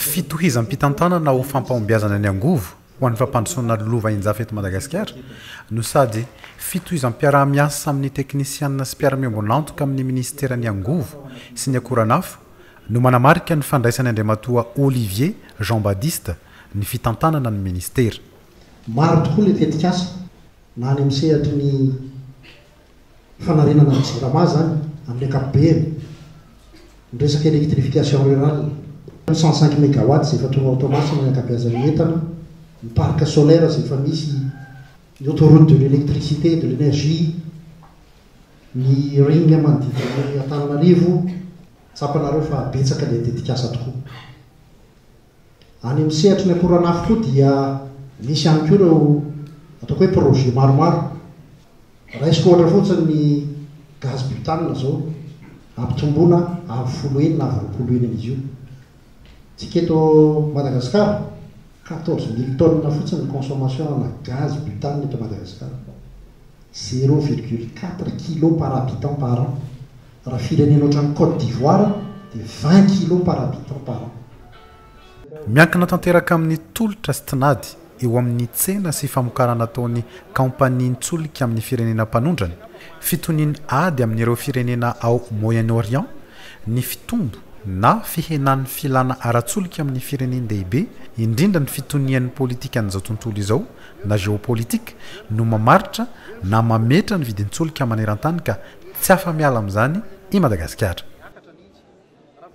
Fitohizam-pitantanana ho fampahombiazana ny angovo ho an'ny fampandrosoana lova injafy eto Madagasikara no sady fitohizam-piaraha-miasa amin'ny teknisianina sy mpiara-miombon'antoka amin'ny minisiteran'ny angovo sy ny akoranafo no manamarika ny fandraisany Andriamatoa Olivier Jean Badiste ny fitantanana ny minisitera. Maro tokoa ilay tetikasa na any amin'ny sehatry ny. fanarenana ny Jirama izany amin'ny ankapobeny, ny resaka électrification rurale, ny cent cinq mégawatts izay efa tonga ao Toamasina ny ankabeazan'ny entana, ny parc solaire izay efa misy, ny autoroute de l'électricité et de l'énergie, ny ring manodidina an'Antananarivo, tsapanareo fa betsaka ilay tetikasa tokoa. Any amin'ny sehatry ny akoranafo koa dia misy ihany koa ireo ataoko hoe projet maromaro. Raisiko ohatra fotsiny ny gaz butane izao, ampitomboina avo folo heny na avo roapolo heny an'izy io. Isika eto Madagasikara, quatorze mille tonnes fotsiny ny consommation ana gaz butane eto Madagasikara, zero virgule quatre kilos par habitant par an. Raha firenena ohatran'i Côte d'Ivoire dia vingt kilos par habitant par an. Miankina tanteraka amin'ny tolotra sy tinady eo amin'ny tsena sy famokarana ataon'ny kaompanian-tsolika amin'ny firenena mpanondrana, fitonian'ny ady amin'ireo firenena ao Moyen-Orient, ny fitombo na fihenan'ny filàna ara-tsolika amin'ny firenen-dehibe, indrindra ny fitonian'ny politikan'izao tontolo izao na géopolitique no mamaritra na mametra ny vidin-tsolika maneran-tany ka tsy afa-miala amin'izany i Madagasikara.